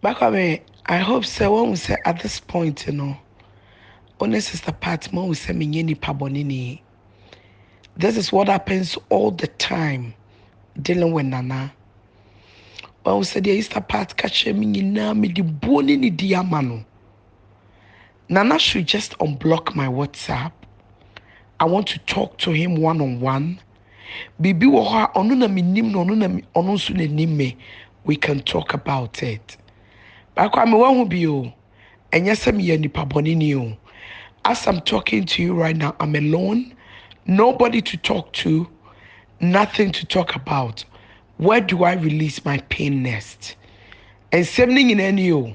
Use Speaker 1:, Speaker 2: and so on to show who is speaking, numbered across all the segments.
Speaker 1: Bakwabe, I hope sɛ woahu sɛ at this point no, wo ne Sister Pat moahu sɛ menyɛ nipa bɔneni. This is what happens all the time dealing with Nana. Woahu sɛ deɛ Sister Pat ka kyerɛ me nyinaa mede buo ne nidi ama no. Nana should just unblock my WhatsApp, I want to talk to him one on one, biribi wɔ hɔ a ɔno na menim no, ɔno na ɔno nso na nim me, we can talk about it. Baako a mewɔ ho bi o, ɛnyɛ sɛ meyɛ nipa bɔne ni o. As I'm talking to you right now, I'm alone, nobody to talk to, nothing to talk about. Where do I release my pain next? Nsɛm no nyinaa ni o.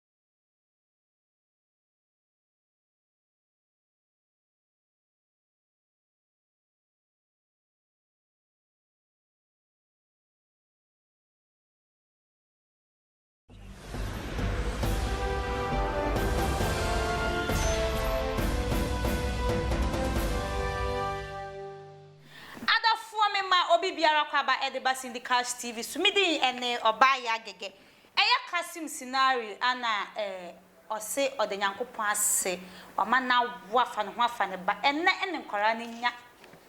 Speaker 2: Adɔfoɔ me ma obi biara kɔ aba ɛde ba Cindy Cash TV so me din ɛne Ɔbaa Yaa Gɛgɛ Ɛyɛ Kasim Sinari a na eh ɔse ɔda Nyankopɔn ase wama no awo afa ne ho afa ne ba ɛnɛ ne nkwaraa no nya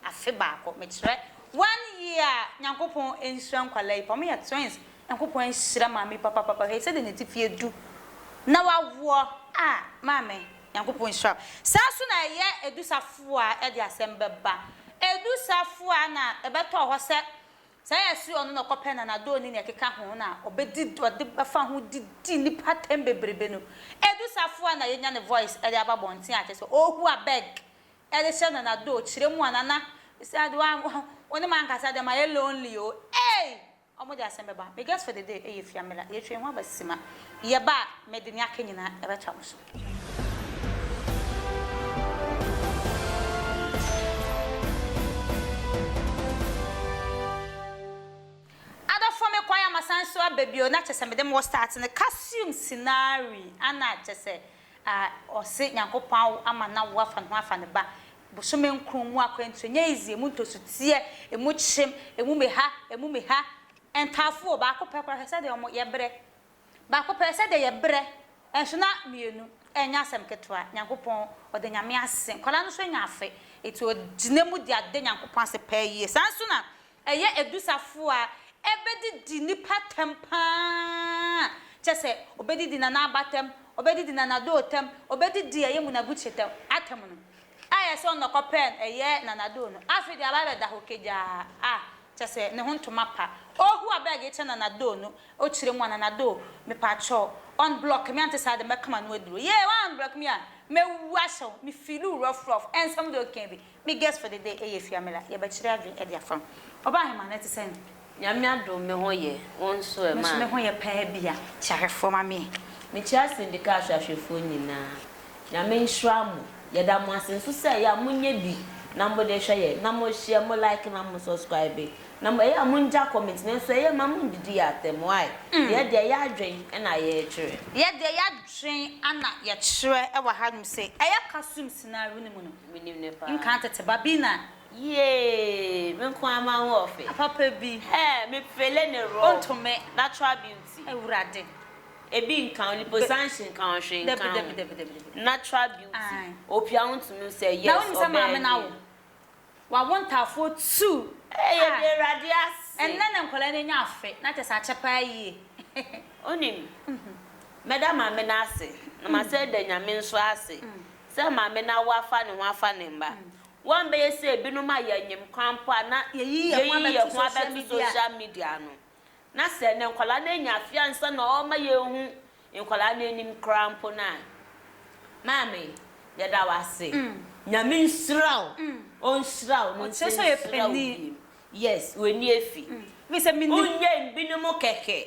Speaker 2: afe baako mekyerɛ one year Nyankopɔn nhyira nkwaraa yi paa ɔmo yɛ twins Nyankopɔn nhyira maame yi papapapa hwɛ sɛdeɛ natifi adu na wawoɔ ah maame Nyankopɔn nhyira wo saa nso na ɛyɛ Edu Safuah ɛde asɛm bɛba Edu Safuah na ɛbɛtɔɔ hɔ sɛ Sɛ yɛ se ɔno na ɔkɔpɛ nanadɔɔ ne nea ɛkeka ho na ɔbɛdi ɔde bɛfa ho de di nipa atɛm bebrebe no ɛdu sa fo a na yɛnya ne voice ɛde aba abɔnten a kyerɛ sɛ ɔɔhu abeg ɛde hyɛ nanadɔɔ kyerɛ mu a nana mesɛ ade wa wo ne mankasa deɛ mayɛ lonely o ei ɔmo de asɛm bɛba me guest for the day ɛyɛ fiamela yɛtwɛn ho aba sima yɛba a mede nea aka nyinaa ɛbɛtoa mo so. Adɔfoɔ me kɔ ayɛ a masan nso aba bio na kyɛ sɛ mede mo wɔ start no kasium sinari ana kyɛ sɛ ah ɔse nyankopɔn awo ama no awo afa ne ho afa ne ba bosome nkron mu akwantuo nyɛ easy emu ntosoteɛ emu kyem emu meha emu meha ntaafoɔ baako pɛ koraa hwɛ sɛdeɛ ɔmo yɛbrɛ Baako pɛ sɛ deɛ yɛ brɛ nso na mmienu ɛnyɛ asɛm ketewa Nyankopɔn ɔda Nyame ase nkwadaa no nso anya afe enti ɔgyina mu de ada Nyankopɔn ase paa yie saa nso na ɛyɛ ɛdu safo a ɛbɛdidi nipa tɛm paa kyɛ sɛ ɔbɛdidi nana aba tɛm ɔbɛdidi nana doo tɛm ɔbɛdidi ɛyɛ munabutire tɛm atɛm no Ayɛ sɛ ɔnɔkɔ pɛn ɛyɛ nanado no afei deɛ aba bɛda hɔ kagyaa ah kyɛ sɛ ne ho ntoma pa oh huu abeg ekyɛ nanado no okyire mu a nanado mepakyɛ wo unblock me ante saa deɛ mɛkama no aduro yee wa unblock me a mɛwu ahyɛ wo me feel wo rough rough ɛnsɛm deɛ okeɛ bi me guess for the day ɛyɛ fiamila yɛbɛkyere adwene ɛde afa ho ɔbaa hemaa no ɛte sɛn. Nyame adom me
Speaker 3: ho yɛ, wo nso ɛ, maa me. Me nso me ho yɛ paa bi a,
Speaker 2: kyia hwɛfoɔ ma me. Me kyia Sindika
Speaker 3: ahwɛahwɛfoɔ nyinaa, Nyame nhyira mo. Yɛda mo ase nso sɛ ɛyɛ a mo nyɛ bi na mo de hwɛ yɛn, na mo share, mo like na mo subscribe, na mo ɛyɛ a mo ngya comment, nanso ɛyɛ mma mo ndidi yɛn atɛm, why? Yɛ deɛ yɛ adwen na yɛ twerɛ. Yɛ deɛ yɛ adwen
Speaker 2: na yɛ twerɛ wɔ ha nom sɛ ɛyɛ Kasum scenario no mu no, Menim no paa. nka
Speaker 3: tete ba bi na
Speaker 2: Yee!
Speaker 3: Me nko ara ma wo ɔfe. Papa bi. Hɛɛ!
Speaker 2: Me pele
Speaker 3: ne raw. Onto me. Natural
Speaker 2: beauty.
Speaker 3: Awurade.
Speaker 2: Ebi nka
Speaker 3: wo, liposuction nka wo, hwee nka wo. Dabi, dabi, dabi, dabi, dabi. Natural beauty. Ae. Opia wo ntumi wo sɛ yes, ɔbɛɛ nie. Na wonim sɛ maame no awo?
Speaker 2: Wawo ntaafoɔ two. Ee! Yɛda Awurade
Speaker 3: ase. Ɛnnɛ na nkwadaa no anya
Speaker 2: afe, na kyerɛ sɛ akyɛ pa ara yie. Wonim,
Speaker 3: mɛda maame no ase, na masan ada Nyame nso ase sɛ maame no awo afa ne ho afa ne mma. Wɔbɛyɛ sɛ ebinom a yɛnyem kwan mpo a na yɛyi yɛn ho abɛto social media no. Na sɛ nnɛ nkwadaa no anya afe ansa na wɔma yɛhu nkwadaa no anim koraa mpo no a. Maame, yɛda wo ase. Nyame nhyira wo. Ɔnhyira wo na ɔnsan nhyira wo bio.
Speaker 2: Yes, w'ani
Speaker 3: afi. Wonyɛn
Speaker 2: binom
Speaker 3: kɛkɛ.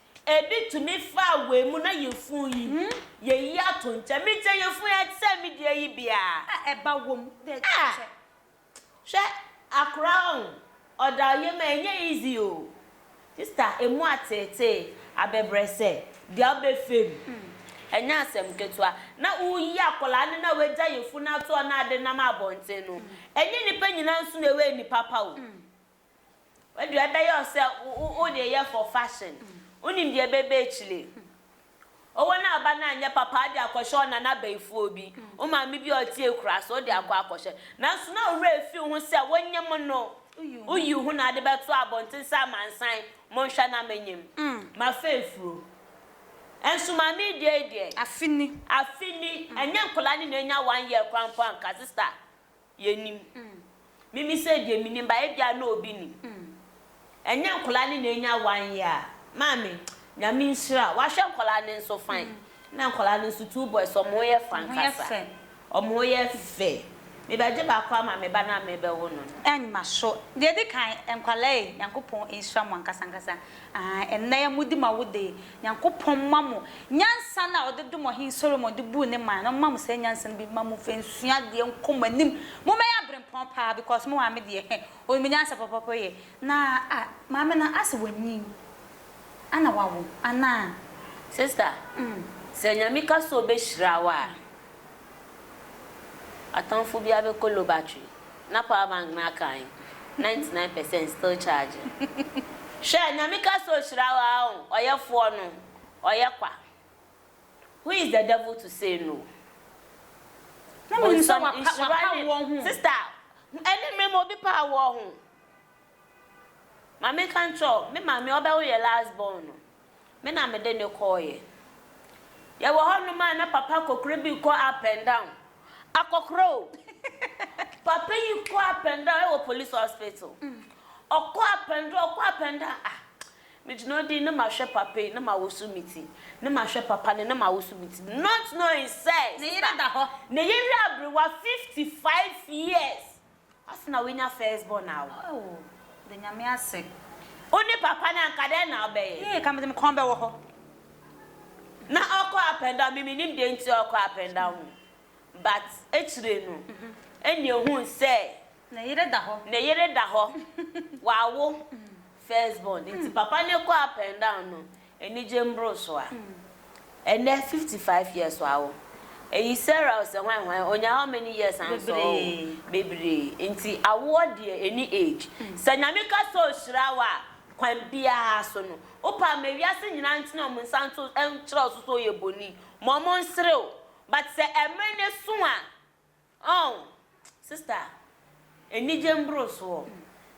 Speaker 2: Ebi tumi
Speaker 3: faa wei mu na yefun yi, yeyi ato nkyɛn. Me deɛ yefun yi ɛte sɛ me deɛ yi biaa. A ɛba wom
Speaker 2: dɛ kyɛkyɛ.
Speaker 3: Hwɛ akora ɔn ɔda ɔyam a ɛnyɛ easy o. Sister emu ateetee abɛbrɛsɛ deɛ wobɛfɛ mu ɛnyɛ asɛm ketewa. Na woyi akwadaa no na wagya yefun ato hɔ na ade nam abɔnten no ɛnyɛ nipa nyinaa nso na ɛwɔ ani papa o. Wode ɛbɛyɛ wo sɛ wode yɛ for fashion wonim deɛ ɛbɛba akyire Ɔwɔ no aba no anyɛ papa wode akɔhyɛ ɔnana abayifoɔ bi wo maame bi a ɔte akura so wode akɔ akɔhyɛ nanso na wo werɛ afi ho sɛ wonyem no woyi ho na wode bɛto abɔnten sɛ amansan monhwɛ na menyem mafa afuro Nso maame yi deɛ yi deɛ afe ni afe ni ɛnyɛ nkwadaa no na anya one year koraa mpo anka sister Yɛnnim. Mimi sɛ deɛ menim ba ebia na obi nim. Ɛnyɛ nkwadaa no na anya one year a, maame, Nyame nhyira wo. Wahwɛ nkwadaa no nso fine. Na nkwadaa no nso, two boys, wɔn ho yɛ fɛ ankasa. Wɔn ho yɛ fɛ. Mebɛgye baako ama me ba no a merebɛwo no no. Ɛmma so.
Speaker 2: Deɛ ɛdi kan, nkwadaa yi, Nyankopɔn nhyira mo ankasa ankasa. Ah, ɛnnɛ yɛ modi ma wo de. Nyankopɔn mma mo nyansa no a ɔde dom ɔhen Solomon de buu ne man no, ɔmma mo saa nyansa no bi mma mo mfa nsua adeɛ nkɔ mo anim. Mo mmɛyɛ abrempɔn paa because mo maame deɛ hɛ, ɔnim nyansa pɔpɔpɔ yɛ. Na ah, maame no ase wanyin ana wawo anaa? Sister,
Speaker 3: sɛ Nyame ka sɛ ɔbɛhyira wo a, Atamfo bi abɛkɔ low battery na power bank no aka he? Ninety nine percent still charging. Hwɛ Nyame ka sɛ ohyira wo aa oh ɔyɛfoɔ no ɔyɛ kwa who is the devil to say no
Speaker 2: Bonsam nhyira ne sister
Speaker 3: ɛne mmere mu obi pa awoɔ ho. Ma menka nkyerɛ wo, me maame a ɔbɛwo yɛn last born no, me na mede no kɔeɛ. Yɛwɔ hɔnom a na papa kokorɛ bi rekɔ up and down, akɔkorɛ o! Papa yi kɔ up and down wɔ police hospital, ɔkɔ up and down, ɔkɔ up and down, ah! Megyina hɔ din, na mahwɛ papa yi, na mawoso me ti, na mahwɛ papa no, na mawoso me ti, not knowing sɛ, ne yere da hɔ,
Speaker 2: ne yere aberewa
Speaker 3: fifty five years, Ase na wenya first born a wo. Aww mede
Speaker 2: nyame ase. Wo ne papa
Speaker 3: no anka dɛn na wobɛyɛ. Yee ka mede me kɔn bɛwɔ hɔ. Na ɔkɔ up and down me menim deɛ nti ɔkɔ up and down o but akyire no ɛnna ehuu sɛ. Ne yere da hɔ.
Speaker 2: Ne yere da hɔ wawo first born nti papa no kɔ up and down no Anigye mboro so a. Ɛnɛ fifty five years wa wo Eyi Sarah o sɛ hwan hwan Onya how many years ansɔ o Bebree Nti awoɔ deɛ ɛni age Sɛ Nyame ka sɛ ɔhyira wo a Kwan biara so no wo paa Ma wiase nyinaa ntene wɔn nsa nto Nkyerɛ wo so sɛ ɔyɛ boni Ma wɔn nsere wo But sɛ ɛmere no so a Oh sister anigye mboro soɔ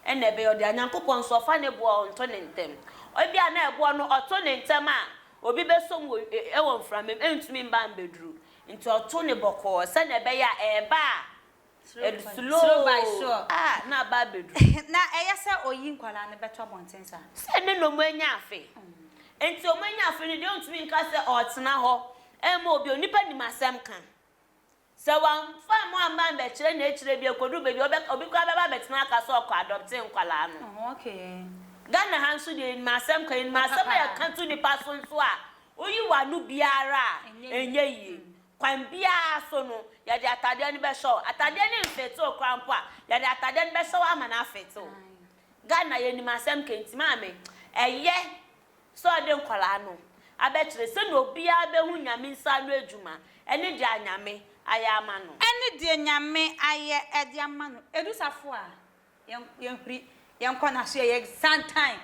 Speaker 2: ɛna ɛbɛyɛ ɔde a Nyankopɔn nso ɔfa ne boɔ ɔnto ne ntɛm ebia na ɛboɔ no ɔto ne ntɛm a obi bɛsɔ mu wɔ mframa mu ɛntumi mba mbɛduru nti ɔto no bɔkɔɔ sɛdeɛ ɛbɛyɛ a ɛɛba a slow ah na aba abɛduru.
Speaker 3: Na ɛyɛ sɛ
Speaker 2: ɔyi nkwadaa no bɛto abɔnten saa. Sɛ ne na ɔmo anya
Speaker 3: afe nti ɔmo anya afe no deɛ ɔntumi nka sɛ ɔɔtena hɔ ɛɛma obi onipa nim asɛm ka. Sɛ wɔamfa mmoa amma ammɛkyerɛ na akyire bi ɛkɔduru baabi a, obi koraa bɛba abɛtena aka sɛ ɔkɔ adɔptee nkwadaa no.
Speaker 2: Ghana ha nso
Speaker 3: deɛ yɛnim asɛm ka, yɛnim asɛm a yɛka to nnipa so nso a, woyi w'ano biara a, ɛnyɛ yie. Kwan biara so no, yɛde atadeɛ no bɛhyɛ wo. Atadeɛ no mfete wo koraa mpo a, yɛde atadeɛ no bɛhyɛ wo ama no afete wo. Ghana yɛnim asɛm ka nti maame, ɛyɛ. sɛ ɔde nkwadaa no abɛkyerɛ sɛdeɛ obiara bɛhu Nyame nsa ano adwuma ne deɛ Nyame ayɛ ama no. Ɛne deɛ Nyame
Speaker 2: ayɛ de ama no. Ɛdu safo a, yɛnhuri, yɛnkɔ n'aso, yɛyɛ santan.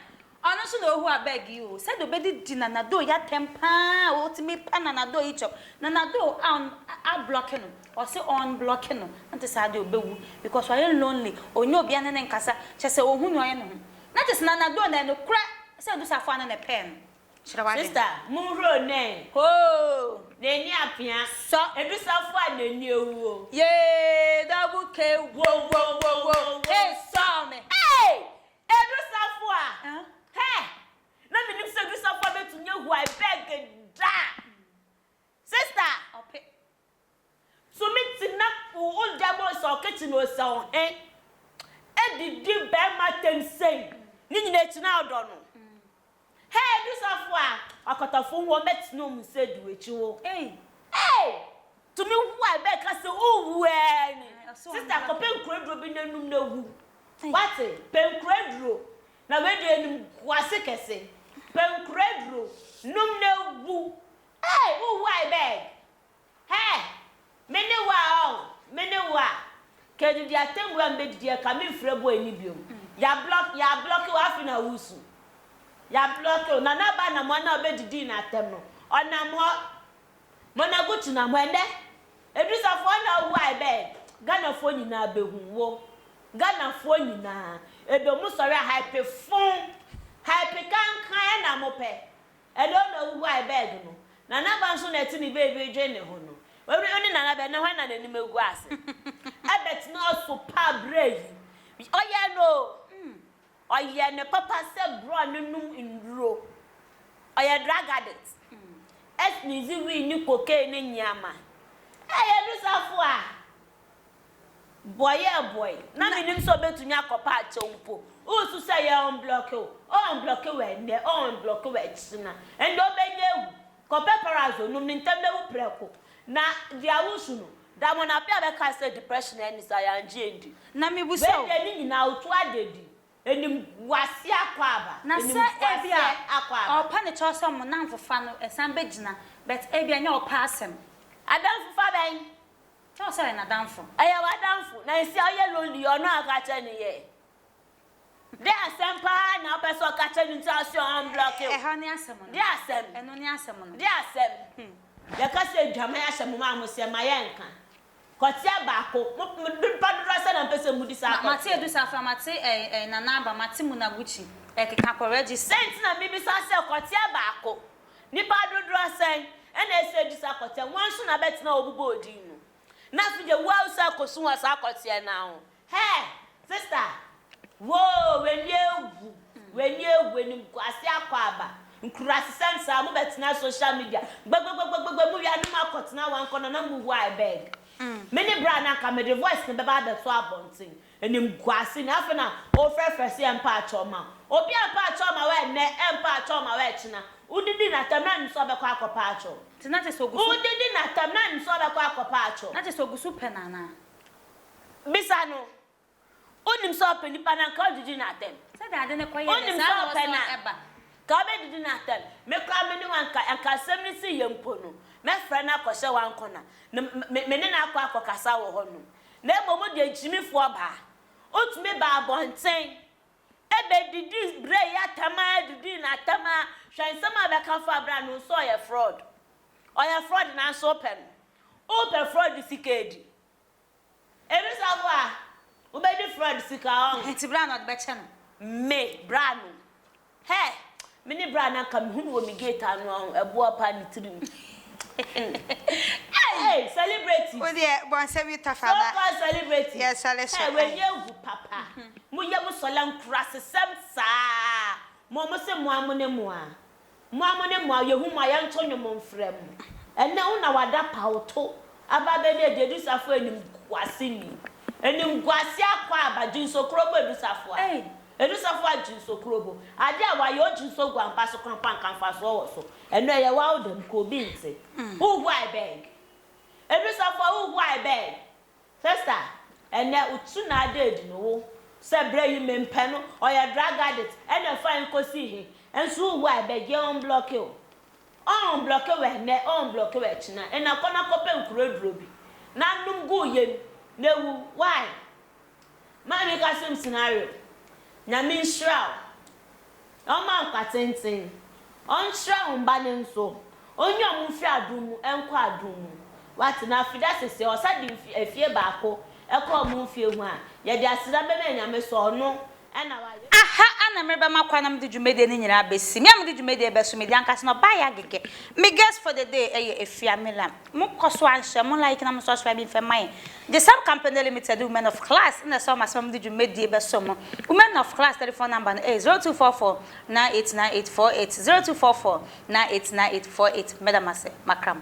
Speaker 2: Ɔno nso na ɔhu abɛg yi o, sɛdeɛ ɔbɛdidi Nanado yi atɛm pa ara a, ɔtumi pa Nanado yi kyɛw. Nanado a ablɔke no, ɔse ɔnblɔke no, ante saa deɛ ɔbɛwu because wayɛ lonely, ɔnnya obiara ne no nkasa, kyerɛ sɛ ɔhu deɛ ɔyɛ ne ho. Na te sena na do nɛ nokorɛ sɛ odu safoa no na ɛpɛɛ no kyerɛ wade.
Speaker 3: Sista monhuro nɛn hoo.
Speaker 2: Nani apea
Speaker 3: sɔ. Edu safoa
Speaker 2: a nani
Speaker 3: awu o. Yee
Speaker 2: double K wowowowo hey sɔɔ me. Hey!
Speaker 3: Edu safoa heh na menim sɛ edu safoa bɛtumi ahu I beg daa sista. Ɔpe. Tumi tena old diamonds a ɔkete no ɔsɛ ɔhe ɛdidi bɛɛma tɛm sɛn ne nyina ɛkyina ɔdɔ no hɛɛ ɛdu safo a wakɔtɔfo ho wɔn bɛte no ɔmu sɛ du ɛkyi ho eii tumi hu a ɛbɛɛ ka sɛ owu ɛɛ ni sister kɔ pɛ
Speaker 2: nkura duro
Speaker 3: bi na num na wu wate pɛ nkura duro na wei deɛ nim gu ase kɛse pɛ nkura duro num na wu eii owu a ɛbɛɛ Hɛɛ! Me ne wo a ɔo, me ne wo a. K'ɛdidi atɛmbu a m'bɛdidi a ka menfrɛ boy no biom. Y'a block, y'a block wo afei na woresu. Y'a block wo, na n'aba anamoa no a ɔbɛdidii no atɛm no, ɔnam hɔ. Monagucci nam hɔ, ɛnɛ, Edrisafɔɔ na ɔwu a ɛbɛɛ, Ghanafoɔ nyinaa bɛhu wo. Ghanafoɔ nyinaa, ɛdɔ mu sɔre a hype fon, hype kankan na mopɛ. Ɛdɔɔ na ohuhuae bɛg no. Nana ba nso na ɛte ne baby redwen ne ho no. W'awie wo ne Nana bɛ, na hwan na n'anim agu ase? Ebert no aso paa berɛ yi. Ɔyɛɛ no o, ɔyɛɛ no papa sɛ borɔɔ no nom nnuro. Ɔyɛ drug addict. Sneeze weed ne cocaine ne nneɛma. Ɛɛ yɛdu so afoa. Boayɛɛ boae, na minnim sɛ obetumi akɔ Pacho mpo. Wusu sɛ yɛɔnblɔke wo, ɔɔnblɔke wo ɛnnɛ, ɔɔnblɔke wo akyiri na ɛnde obenya awu. Kɔ pepperazzo nom ne ntɛm na wu prɛko. Na dua wo su no. Da mona bea a bɛkae sɛ depression anni saa, yɛangye andi. Na mibisa wo. Wei deɛ
Speaker 2: ne nyinaa wotu
Speaker 3: adadi. Animguase akwaaba, Na sɛ ebia animguaseɛ
Speaker 2: akwaaba. ɔɔpɛ ne kyɛw sɛ mo nnamfofa no san begyina, but ebia ɛnyɛ ɔpɛ asɛm. Adamfofa
Speaker 3: bɛn? Kyɛw sɛ ɔyɛ
Speaker 2: n'adamfo. Ɔyɛ w'adamfo, na
Speaker 3: nsi a ɔyɛ lonely ɔno a ɔka kyerɛ no yɛ Dɛ asɛm paa na ɔpɛ sɛ ɔka kyerɛ no nti a ɔse ɔ unblocke wo Ɛha ne asɛm no, Dɛ
Speaker 2: asɛm, ɛno ne
Speaker 3: asɛm no. Dɛ
Speaker 2: asɛm,
Speaker 3: Yɛka sɛ adwaman ahyɛ mo ma mo sɛ ma yɛnka Kɔteɛ baako, mo nipa dodoɔ sɛn na mpɛ sɛ modi saa kɔteɛ no? Mate Adu Safra, mate
Speaker 2: ɛɛ Nana Aba, mate Munaguchi ɛkeka kɔ Regis. Sɛn nti na mebisa sɛ
Speaker 3: kɔteɛ baako, Nnipa dodoɔ sɛn na ɛsɛ sɛ ɛdi saa kɔteɛ no? Wɔn nso na bɛtena wɔn bobɔ odin no. Na afei deɛ wo ara wo sɛ akɔsu wɔ saa kɔteɛ no ara ho. Hɛɛ! Sista! Woo! W'ani awu! W'ani awu! Animguaseɛ akɔ aba! Nkurasesɛm saa! Mo bɛtena social media gbagbagbagba mo wia ne mo akɔtena wɔn akɔnnɔ na mo wu I beg. Me ne bra no anka mede voice no bɛba abɛto abɔnten. Animguase na afei na wofrɛfrɛ sɛ yɛmpaakyɛw mma wo. Obi ampaakyɛw amma wo ɛnnɛ, ɛrempaakyɛw mma wo ɛkyena. Wodidi n'atɛm na anim sɛ ɔbɛkɔ akɔpaakyɛw wo. Nti na kyerɛ sɛ ogu so.
Speaker 2: Wodidi n'atɛm na anim
Speaker 3: sɛ ɔbɛkɔ akɔpaakyɛw wo. Na kyerɛ sɛ ogu so pɛ no
Speaker 2: anaa?
Speaker 3: Bisa no. Wonim sɛ ɔpɛ nipa no a, nka wodidi n'atɛm. Sɛdeɛ ade no kɔ yɛ
Speaker 2: dɛ saa na ɔsɔ ɛba.
Speaker 3: Nka
Speaker 2: wobɛdidi
Speaker 3: n'atɛm. Me koraa me ne wo anka, anka asɛm no sii yɛ mpo no, mɛfrɛ no akɔhyɛ w'ankɔna, na me ne no akɔ akɔkasa wɔ hɔnom. na mmom wode agyimifo aba. Wotumi ba abɔnten bɛdidi berɛ yi atɛm ara didi no atɛm ara, hwɛ nsɛm a wobɛka fa berɛ a no nso ɔyɛ frɔd. Ɔyɛ frɔd nanso wopɛ no. Wopɛ frɔd sika adi. Ebi nso aboa a, wobɛdi frɔd sika ɔn. Nti berɛ a na ɔde bɛkyɛ
Speaker 2: no. Me, berɛ a
Speaker 3: no. Hey! Me ne bra no anka me hu no wɔ me gate ano a ho, ɛboɔ paa ne tirim. Hey! Hey! Celebrity. Wo deɛ bɔ nsɛm
Speaker 2: yi tough anaa? So far celebrity.
Speaker 3: Yɛ sɔle so. Hey! Wei
Speaker 2: nyɛ hu
Speaker 3: papa. Mo yɛ mo sɔle nkurasesɛm saa. Mo a mo se mo a mo ne mo a. Mo a mo ne mo a yɛ hu mo a yɛ nto nwom nfrɛ mo. Ɛnɛ wo na wada pawto aba abɛ ne adi Adusafo animguase ni. Animguase akɔ aba, Jinsokoro bɔ Adusafo a. Edusafo
Speaker 2: a gyinso
Speaker 3: kuro bo ade a wayɛ o gyinso gu ampa so kronpa nka mfasoɔ wɔ so ɛno ɛyɛ wawo dɛm ka obi nte u hu I beg Edusafo a u hu I beg Sister ɛnɛ u tu na ada adi no wo sɛ brɛ yi me mpɛ no ɔyɛ drug addict ɛna fa nko si he nso u hu I beg yɛ unblocke o ɔ unblocke wɔ ɛnɛ ɔ unblocke wɔ ɛkyena ɛna kɔ na kɔ pɛ nkuro aduro bi na nom gu yɛm na wu why. Maa me ka sɛm scenario Nyame nhyira wo Na ɔma nkwa tenten Ɔnkyerɛ wo mba no nso Ɔnyi ɔmo mfiri adom mu nkɔ adom mu Wate na afida sese ɔsa de mfi afie baako kɔ ɔmo mfie ho a Yɛde aseda bɛma Nyame sɛ ɔno na wayɛ. Aha
Speaker 2: na merebɛma kwan na mede dwumadie no nyinaa bɛsi. Me a mede dwumadie bɛso, medi ankasa na ɔbaa yɛ agege. Me guest for the day yɛ Afia Milam. Mo kɔ so ara nhyɛ mo like na mo subscribe mfɛ mma yɛn. Gyesam Company Limited Women of Class na ɛsɛ wɔn ase ma mede dwumadie bɛso mo. Women of Class telephone number no yɛ 0244 989 848, 0244 Nine eight nine eight four eight Meda mo ase, Makram.